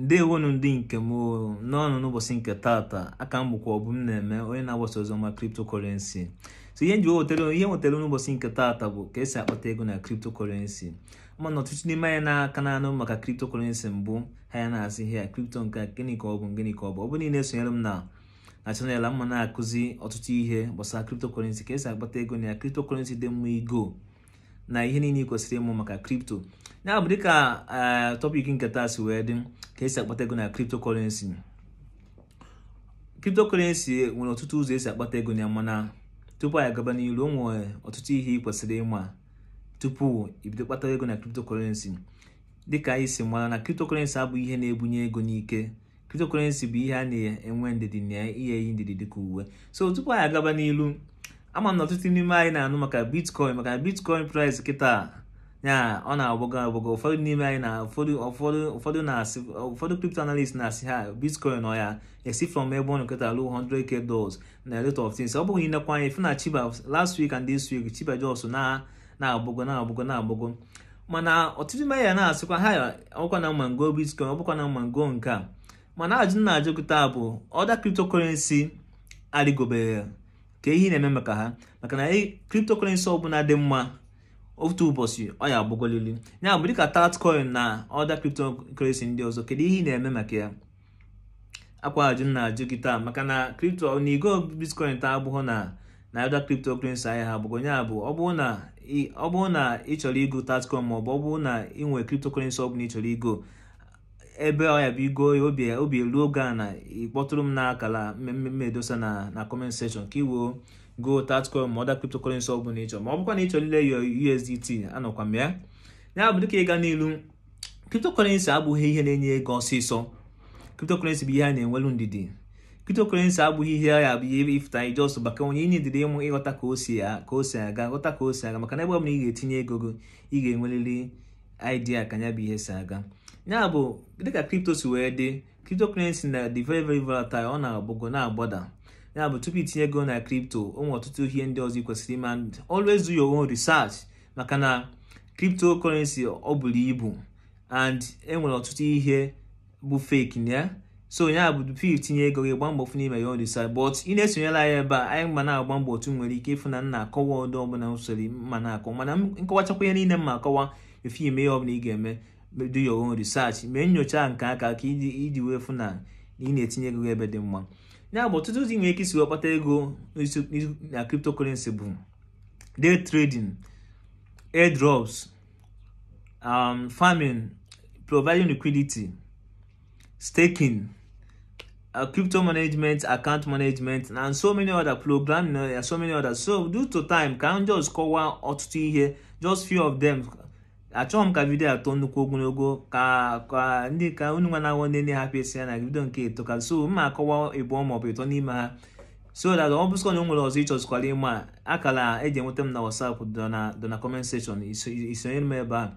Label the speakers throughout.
Speaker 1: ndewonu ndị nke m nnọọnụ n'ụbọchị nke tata aka m bụkwa Ọbụmneme onye na-agbasa oziọma kriptokorensi so ihe m ji wetara ihe m wetara n'ụbọchị nke tata bụ ka esi akpata ego na kriptokorensi mana ọtụtụ n'ime anyị na ka na-anụ maka kriptokorensi mbụ ha ya na-asị ihe a kripto nke gịnị ka ọ bụ gịnị ka ọ bụ ọ bụ na ị na-esonyere m na na channel m a na-akụzi ọtụtụ ihe gbasara kriptokorensi ka esi akpata ego na ya kriptokorensi dị mma igo na ihe niile ị kwesịrị ịma maka kripto ya bụ dịka eh, tọpik nke taa si wee dị ka esi akpata ego na kriptokọrensi kriptokọrensi nwere ọtụtụ ụzọ esi akpata ego na ya mana tupu anyị agaba n'ilu o nwere ọtụtụ ihe ị kwesịrị ịma tupu i bido kpata ego na kriptokọrensi dịka anyị si mara na kriptokọrensi abụghị ihe na-ebunye ego n'ike cryptocurrency bụ ihe a na-enwe ndidi na ihe e yi ndidi dịka uwe so tupu anyị agaba n'ilu ama m na ọtụtụ n'ime anyị na-anụ maka bitcoin maka bitcoin price kịta na ọ na-agbago agbago ụfọdụ n'ime anyị na ụfọdụ ụfọdụ ụfọdụ na-asị ụfọdụ crypto analyst na-asị ha bitcoin ọ ya-esi from ebe ọ nọ kịta ruo 100k dollars na a lot of things ọ bụrụ i nekwa anya ị fụ na shiba last week and this week shiba just na na-agbago na-agbago na-agbago mana ọtụtụ n'ime ya na-asịkwa ha ọbụkwa na m ma m go bitcoin ọbụkwa na m ma m go nke a mana ajụ m na-ajụ kịta bụ other cryptocurrency arịgoberọ kee ihe ị na-eme maka ha maka na cryptocurrency ọbụla dị mma otu ụbọchị ọ ya-agbagolili ya bụ dịka tatcoin na other cryptocurrency ndị ọzọ kedu ihe ị na-eme maka ya ọkwa ajụ m na-ajụ gị taa maka na kripto na igo bitcoin taa abụghị na na other cryptocurrency ahịa ha bụgo ya bụ ọ bụrụ na ọ bụrụ na ị chọrọ igo tatcoin maọbụ ọ bụrụ na ị nwere cryptocurrency ọ bụla ị chọrọ igo ebe ọ ya-abụ i go ya obi obi eluo gị ana ị kpọtụrụ m n'akala m ma-edosa na na comment section ka i wee go tatcoin ma other cryptocurrency ọ bụla ị chọrọ ma ọ bụkwa na ị chọrọ ile ya USDT anọkwa m ya ya bụ dịka ịga n'ilu cryptocurrency abụghị ihe na-enye ego ọsịsọ cryptocurrency bụ ihe a na-enwelu ndidi cryptocurrency abụghị ihe ya bụ ihe ị fụ taa ị just baa ka onye inwe ndidi ịmụ ịghọta ka o si ka o si aga ghọta ka o si aga maka na ebe ọ bụla ị ga-etinye ego gị ị ga-enwerịrị idea ka ya bụ ihe si aga ya bụ dịka crypto si wee dị cryptocurrency na-adị very very volatile ọ na-agbago na-agbada ya bụ tupu i tinye ego na crypto o nwere ọtụtụ ihe ndị ọzọ ị kwesịrị ime always do your own research maka na cryptocurrency o bulu ibu and enwere ọtụtụ ihe bụ fake na ya so ya bụ tupu i tinye ego gị gbaa mbọ fụ na i me your own research but ị na-esonyela anyị ebe a anyị ma na-agba mbọ otu m nwere ike ịfụ na m na-akọwa ọdụ ọbụla usoro ma na-akọ mana m kọwachakwa ihe niile m ma-akọwa before i me ihe ọbụla ị ga-eme do your own research mee nyocha nke aka gị iji wee fụ na ị na-etinye ego ebe dị mma ya bụ ọtụtụ ụzọ ị nwere ike isi wee kpata ego na cryptocurrency bụ day trading airdrops um, farming providing liquidity staking uh, crypto management account management and so many other programming uh, so many others so due to time ka m just kọwaa ọtụtụ ihe just few of them achọghị m ka vidio a too nnukwu ogologo ka ka ndị ka unu nwa na-awọ ndị na-ahapụ esi ya na vidio nke etoka so m ma-akọwa ịbụọ maọbụ ịtọ n'ime ha so that ọ bụsịkwa na o nwere ọzọ ị chọzikwara ịma akala e ji enweta m na WhatsApp dị na comment section i sonyere m ebe a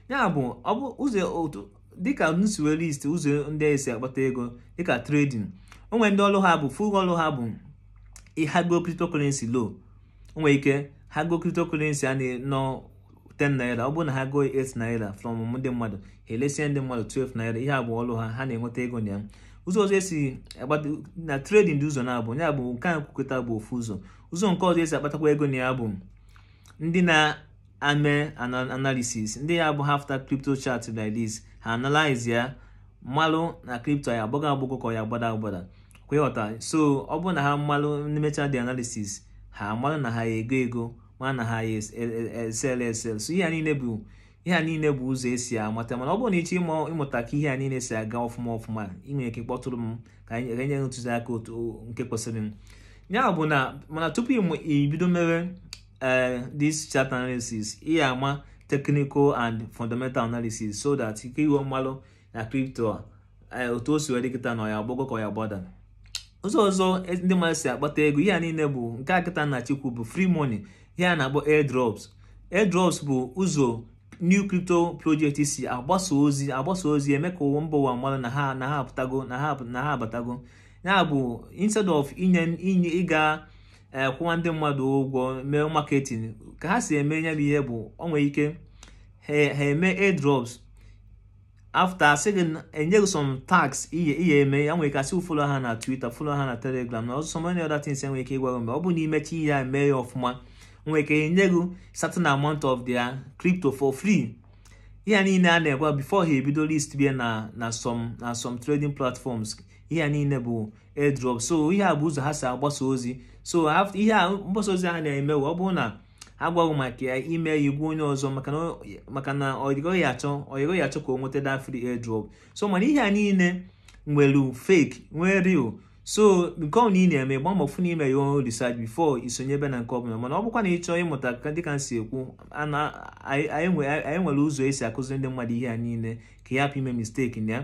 Speaker 1: ya bụ ọ bụ ụzọ otu dịka m si wee list ụzọ ndị e si akpata ego dịka trading o nwere ndị ọlụ ha bụ full ọlụ ha bụ ha goo cryptocurrency low o nwere ike ha goo cryptocurrency a nọ 10 naira ọ bụrụ na ha goo 8 naira from ndị mmadụ ha elesie ndị mmadụ 12 naira ihe a bụ ọlụ ha ha na-enweta ego na ya ụzọ ọzọ e si akpata na trading dị ụzọ naabọ ya bụ nke a m kwu kịta bụ ofu ụzọ ụzọ nke ọzọ e si akpatakwa ego na ya bụ ndị na-ame analysis ndị ya bụ ha fụta crypto chart like this ha analyze ya malụ na crypto ya-agbago agbago ka ya-agbada agbada kwa ị ghọta so ọ bụrụ na ha malụ ndị mechaa the analysis ha malụ na ha ego ego ma na ha ya esell e, e, esell so ihe a niile bụ ihe a niile bụ ụzọ e si amata mana ọ bụrụ na ị chọọ ịmụta ka ihe a niile si aga ọfụma ọfụma i nwere ike kpọtụrụ m ka anyị nye ntụziaka otu nke kwesịrị m ya bụ na mana tupu i bido mere ee eh, this chart analysis ị ya-ama technical and fundamental analysis so that ka i wee malụ na crypto a e, otu o si wee dị kịta na ọ ya-agbago ka ọ ya-agbada ụzọ ọzọ e, ndị mmadụ si akpata ego ihe a niile bụ nke a kịta m na-achọ ikwu bụ free money ihe a na-akpọ airdrops airdrops bụ ụzọ new crypto project si agbasa ozi agbasa ozi eme ka ụwa mba ụwa malụ na ha na ha apụtago na ha na ha abatago ya bụ instead of inye inye ịga e, kwụwa ndị mmadụ ụgwọ mee marketing ka ha si eme ya bụ ihe bụ o nwere ike ha eme airdrops after asị gị enye gị some tasks ihe ị ya-eme e nwere ike asị gị follow ha na Twitter follow ha na Telegram na so many other things e nwere ike ịgwa gị mee ọ bụ na i mechaa ihe a mee ya ọfụma nwere ike enye gị certain amount of their crypto for free ihe niile a na-egwa before ha ebido list bịa na na some na some trading platforms ihe niile bụ airdrop so ihe a bụ ụzọ ha si agbasa ozi so ihe a mgbasa ozi a na-eme ọ bụrụ na a gwa gị maka ya i mee ya ị gwa onye ọzọ maka na ọyị gị ya-achọ ọyị gị ya-achọ ka o nweta that free airdrop so mana ihe a niile nwere fake nwee real so nke ọbụna ị na-eme gba mbọ na i mee your own research before i sonye ebe na nke ọbụla mana ọ bụkwa na ị chọọ ịmụta ka dịka m si ekwu anyị nwere ụzọ e si akụziri ndị mmadụ ihe a niile ka ya hapụ ime mistake na ya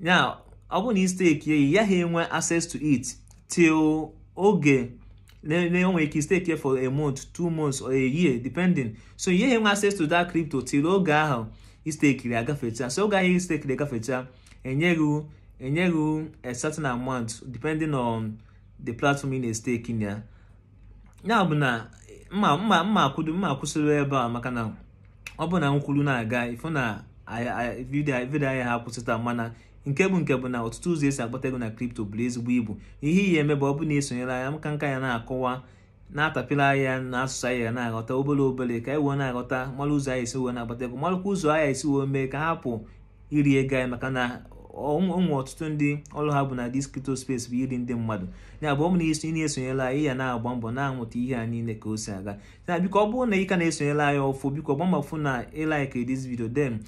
Speaker 1: ya ọ bụrụ na i stake ya ị ya ha enwe access to it till oge na-enwe ike stake for a month two months or a year depending so ị ya ha enwe access to that crypto till oge ahụ i stekiri agafecha so oge ahụ i stekiri gafecha e nye gị e nye gị a certain amount depending on the platform ị na-stake na ya ya bụ na mma mma mma akwụdo mma akwụsịrị ebe a maka na ọ bụ na m kwuru na-aga ị fụ na vidio a ya ha akwụsị taa mana nke bụ nke bụ na ọtụtụ ụzọ e si agbata ego na kripto buru ezigbo ibu ihe ị ya-eme bụ ọ bụ na i sonyere anyị m ka m ka ya na-akọwa na-atapịla ya na asụsụ anyị ya na-aghọta obere obere ka anyị wee na-aghọta mara ụzọ anyị si wee na-agbata ego marakwa ụzọ anyị si wee mee ka a hapụ iri ego anyị maka na o nwe ọtụtụ ndị ọrụ ha bụ na this crypto space bụ iri ndị mmadụ ya bụ ọ bụ na isi na esonyela anyị ya na-agba mbọ na-amụta ihe a niile ka o si aga na biko ọ bụrụ na ị ka na-esonyela anyị ọfụ biko gba mbọ fụ na ị like this video then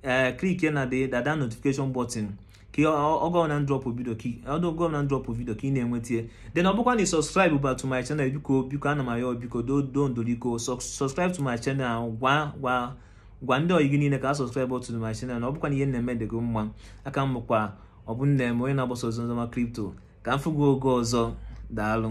Speaker 1: ee eh, click na the the notification button ka ọ bụ na m drop vidio ka ọ bụrụ na m drop vidio ka ị na-enwetie then ọ bụkwa na ị subscribe ba to my channel biko biko ana m ayọ biko doo ndo biko subscribe to my channel gwa gwa gwa ndị ọyị gị niile ka ha subscribe to my channel na ọ bụkwa na ihe m na-eme dị gị mma a ka m bụkwa Obumneme onye na-agbasa ozi oziọma kripto ka m fụ gị oge ọzọ daalụ